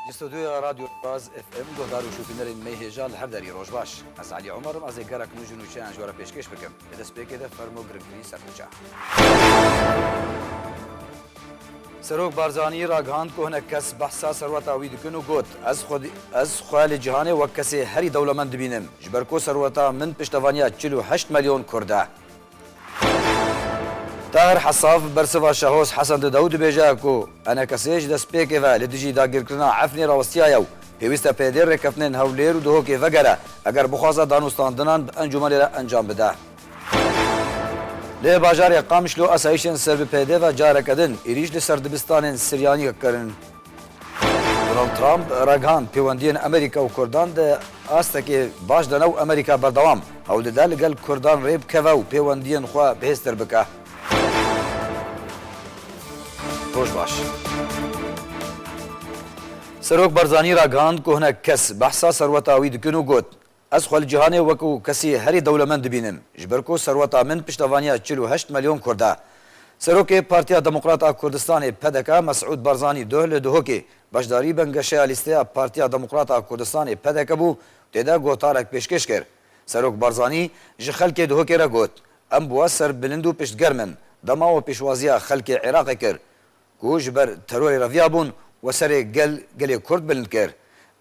Ji stûdyoya Radyo Raz FM guhdar û şopînerên me hêja li hev derî roj baş. Ez Elî Omar im ez ê gelek nû ji nûçeyan ji we re pêşkêş bikim. Di destpêkê de fermo girîngkirî ser nûçe. Serok Barzanî ragihand ku hinek kes behsa serweta wî dikin û got, Ez xwe ez xwe li cîhanê wek kesê herî dewlemend dibînim, ji ber ku serweta min piştevaniya çil û heşt melyon kurd e. Tahir Hesaf bi bersiva Şahoz Hesen Didaw dibêje ku enekesê ji destpêkê ve li dijî dagirkirina Efrînê rawistiyaye û pêwîst e pêdê rêkeftinên Hewlêr û Duhokê vegere eger bixwaze danûstandinan bi encûmenê re encam bide. Li bajarê Qamişlo asayîşên ser bi peyde ve careke din êrîş li ser dibistanên Siryaniyek kirin. Donald Trump ragihan pêwendiyên Amerîka û Kurdan di astekê baş de ne û Amerîka berdewam hewl dide li gel Kurdan rê bikeve û pêwendiyên xwe bihêztir bike. Roj baş. Serok Barzanî ragihand ku hinek kes behsa serweta wî dikin û got, Ez xwe li cîhanê wekû kesî herî dewlemend dibînim, ji ber ku serweta min piştevaniya çil û heşt melyon kurd e. Serokê Partiya Demokrat a Kurdistanê, pdk, Mesûd Barzanî duh li Duhokê beşdarî bingehşeya lîsteya Partiya Demokrat a Kurdistanê, pdk, bû û tê de gotarek pêşkêş kir. Serok Barzanî ji xelkê Duhokê re got, Em bûa ser bilind û piştgerm in. Dema we pêşwaziya xelkê Iraqê kir ku ji ber terorê re viyabûn we serê gel gelê Kurd bilind kir.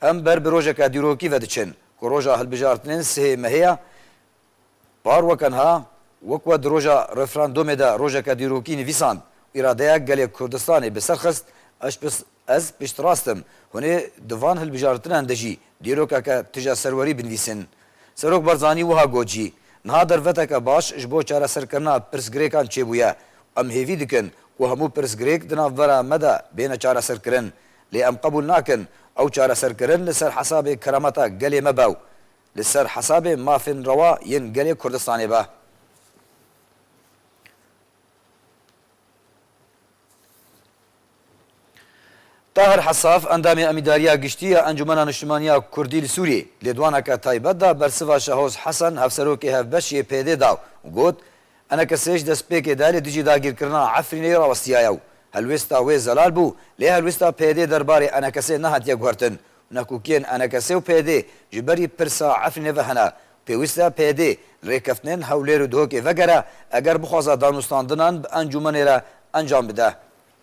Em ber bi rojeke dîrokî ve diçin ku roja hilbijartinên sihê mehê ye. Par wekenha wek we di roja referandomê de rojeke dîrokî nivîsand û îradeya gelê Kurdistanê bi ser xist, ez piştrast im hûn ê di van hilbijartinan de jî dîrokeke tije serwerî binivîsin. Serok Barzanî wiha got jî, Niha derfeteke baş ji bo çareserkirina pirsgirêkan çêbûye û em hêvî dikin Ku hemû pirsgirêk di navbera me de bêne çareserkirin, lê em qebûl nakin ew çareserkirin li ser hesabê kerameta gelê me be û li ser hesabê mafên rewa yên gelê Kurdistanê be. Tahir Hesaf, endamê Emîdariya Giştî ya Encûmena Niştimanî ya Kurdî li Sûriyê, lêdwaneke taybet da bersiva Şahoz Hesen, hevserokê hevbeş yê PYD'ê da û got, Enekesej destpêkê de li dijî dagîrkirina Efrînê rawestiyaye û helwêsta wê zelal bû, lê helwêsta PYD'ê der barê Enekesê nehatiye guhertin û nekokiyên Enekesê û PYD'ê ji berî pirsa Efrînê ve hene û pêwîst e PYD li rêkeftinên Hewlêr û Dihokê vegere eger bixwaza danûstandinan bi encûmenê re encam bide.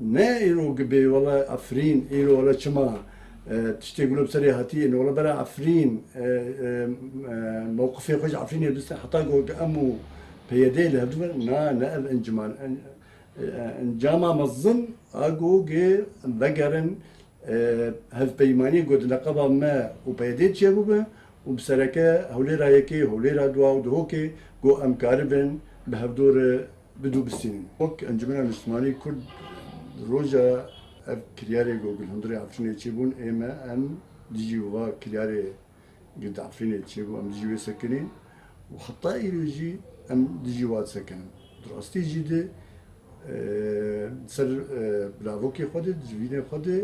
Ne îro gibe wele Efrîn îro wele çima tiştê gule bi serê hatiye ne wele bera Efrîn mewqifê xwe ji Efrînê biste heta ku em û PYD'ê li hev dibin na ne ev enciman e. Encama mezin a ku em vegerin hevpeymaniyê ku di neqeba me û PYD'ê çiye bibe û bi sereke hewlêra yekê, hewlêra dua û dihokê ku em karibin bi hevdor Bi dû bistînin wek Encumena Niştimanî Kurd roja ev kiryarê ku gil hundirê Efrînê çêbûn ê me em dijî wiha kiryarê gil di Efrînê çêbû em dijî wê sekinîn û heta îro jî em dijî wa disekinin. Di rastî jî di ser bilavokê xwe de di civînê xwe de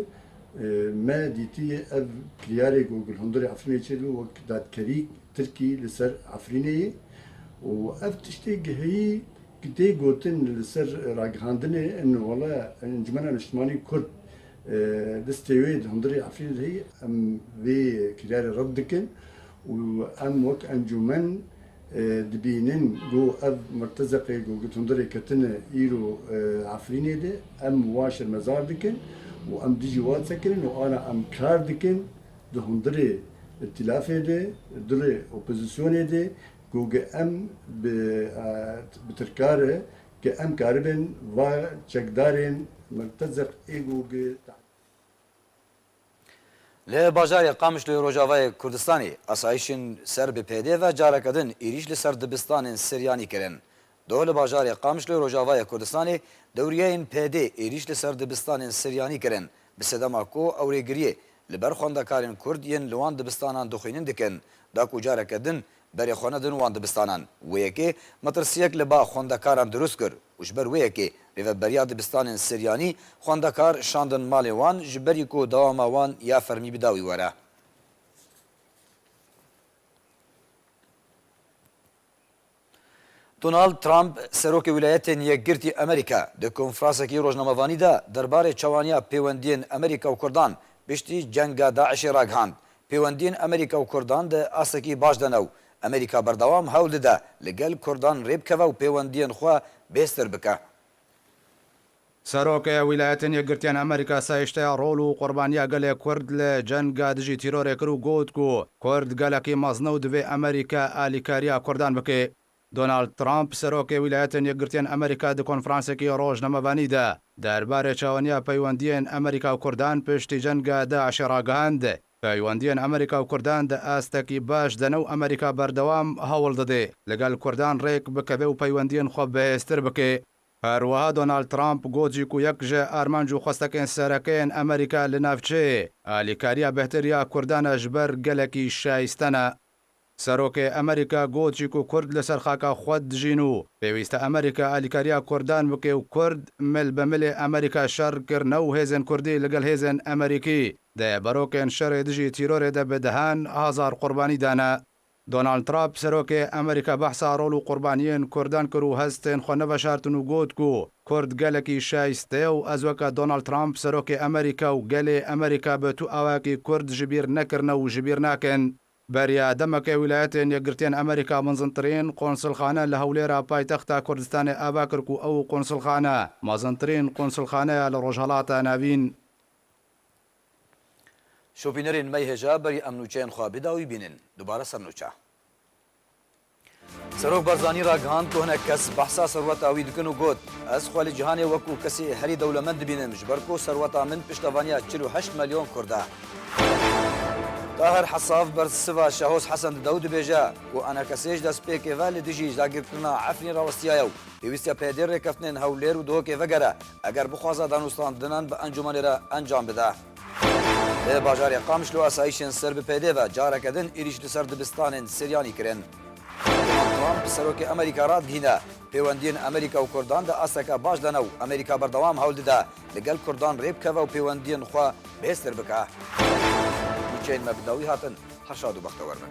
me dîtî ev kiryarê ku gil hundirê Efrînê çêdibe wek dadkerî Tirkî li ser Efrînê ye û ev tiştê gihî ku tê gotin li ser ragihandinê in wele Encûmena Niştimanî Kurd destê wê di hundirê Efrînê de heye, em vê kiryarê red dikin û em wek encûmen dibînin ku ev mirtezeqê ku di hundirê ketine îro Efrînê de em wan şermezar dikin û em dijî wan sekinîn û ana em kar dikin. Di hundirê îtîlafê de, dirê opozîsyonê de ku ge em bi bi tirka re ge em karibin va çekdarên mirtezeq ê ku ge tahdîd. Li bajarê Qamişloyê Rojavayê Kurdistanê asayişên ser bi pêdê ve careke din êrîş li ser dibistanên Siryanî kirin. Doh li bajarê Qamişlo ê Rojavayê Kurdistanê dewriyeyên PD êrîş li ser dibistanên Siryanî kirin bi sedema ku ewrêgiriyê li ber xwendekarên Kurd yên li wan dibistanan dixwînin dikin da ku careke din berê xwe nedin wan dibistanan. Wê yekê metirsiyek li ba xwendekaran dirust kir û ji ber wê yekê rêveberiya dibistanên Siryanî xwendekar şandin malê wan ji berî ku dewama wan ya fermî bi dawî were. Donald Trump, Serokê Wîlayetên Yekgirtî Amerîka di konfrasekî rojnamevanî de derbarê çewaniya pêwendiyên Amerîka û Kurdan piştî cenga DAIŞ'ê ragihand, Pêwendiyên Amerîka û Kurdan di astekî baş de ne û Amerîka berdewam hewl dide li gel Kurdan rêbikeve û pêwendiyên xwe bêstir bike. Serokeya Wîlayetên Yekgirtiyan a Amerîka sahişteya rol û qurbaniya gelê Kurd li cenga dijî tîrorê kir û got ku Kurd gelekî mezne û divê Amerîka alîkariya Kurdan bike. Donald Trump, Serokê Wîlayetên Yekgirtiyan Amerîka di konferansekî rojnamevanî de derbarê çawaniya peywendiyên Amerîka û Kurdan piştî cenga DAIŞ'ê ragihand, Peywendiyên Amerîka û Kurdan di astekî baş de ne û Amerîka berdewam hewil dide li gel Kurdan rêk bikeve û peywendiyên xwe bihêztir bike. Her wiha Donald Trump got jî ku yek ji armanc û xwestekên sereke yên Amerîka li navçeyê, alîkariya bêhtir ya Kurdan e ji ber gelekî şaîste ne. Serokê Amerîka got jî ku Kurd li ser xaka xwe dijîn û pêwîste Amerîka alîkariya Kurdan bike û Kurd mil be milê Amerîka şer kirine û hêzên Kurdî li gel hêzên Amerîkî dê barokên şerê dijî tîrorê de bi dehan hezar qurbanî dane. Donald Trump, Serokê Amerîka behsa rol û qurbaniyên Kurdan kir û hestên xwe neveşartin û got ku Kurd gelekî şayste ye û ez weke Donald Trump, Serokê Amerîka û gelê Amerîka bi tu awayekî Kurd ji bîr nekirine û ji bîr nakin. Beriya demeke Wîlayetên Yekgirtiyên Amerîka mezintirîn qonsilxane li Hewlêra paytexta Kurdistanê ava kir ku ew qonsilxane mezintirîn qonsilxaneya li Rojhilata Navîn. Şopînerê nimey hêja berî em nûçeyên xwe bida wî bînin. Dubare ser nûçe. Serok Barzanî ragihand ku hinek kes behsa serweta wî dikin û got, Ez xwe li cîhanê wekû kesê herî dewlemend dibînim ji ber ku serweta min piştevaniya çil û heşt melyon kurd e. Tahir Hesaf bersiva Şehoz Hesen dide û dibêje ku enekesê ji destpêkê ve li dijî dagirkirina Efrîn rawestiyaye û pêwîst e peyedê rêkeftinên Hewlêr û Duhokê vegere Eger bixwaze danûstandinan bi encûmanê re encam bide. Li bajarê Qamişlo asayîşên ser bi pêdê ve careke din êrîş li ser dibistanên Siryanî kirin. Donald Trump Serokê Amerîka radihîne, pêwendiyên Amerîka û Kurdan di asteke baş de ne û Amerîka berdewam hewl dide li gel Kurdan rê bikeve û pêwendiyên xwe bêheztir bike. Nûçeyên me bi dawî hatin, Herşad û bextewer bin.